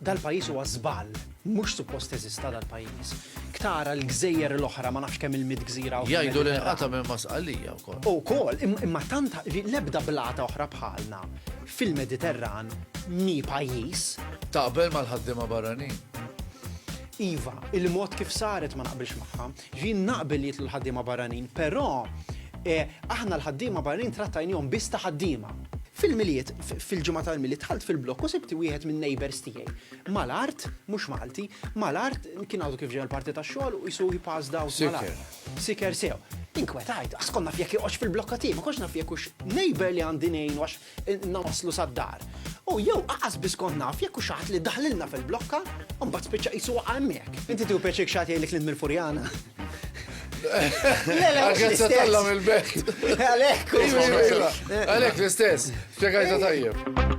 Dal-pajjiż huwa żball. Mhux suppost teżista dal-pajjiż. Ktara l-gżejjer l-oħra, ma nafx kemm il-mitt gżira hawn fil-Mediterran. Jgħidu li nqata' minn ma' Sqallija wkoll. Ukoll, imma tant li l-ebda blata oħra bħalna fil-Mediterran mhi pajjiż. Taqbel mal-ħaddiema barranin? Iva, il-mod kif saret ma naqbilx magħha. Jien naqbel li jidħlu l-ħaddiema barranin, però aħna l-ħaddiema barranin trattajnihom biss ta' ħaddiema. Fil-Milied, fil-ġimgħa tal-Milied dħalt fil-blokk u sibt wieħed min-neighbours tiegħi. Mal-art, mhux Malti, mal-art, kien għadu kif ġej mill-parti tax-xogħol u qisu he passed out mal-art. Siker. Siker sew. Inkwetajt, għax kont naf jekk joqgħodx fil-blokka tiegħi, ma kontx naf jekk hux neighbour li għandi ngħinu għax Ilna waslu sad-dar. U jew qaqas biss kont naf jekk hux ħadd li daħlilna fil-blokka u mbagħad spiċċa qisu waqa' hemmhekk. Inti tieħu pjaċir jekk xi ħadd jgħidlek li int mill-Furjana? Le, le, mhux l-istess. Għalhekk se tella mill-belt. Għalhekk. Għalhekk l-istess. Spjegajta tajjeb.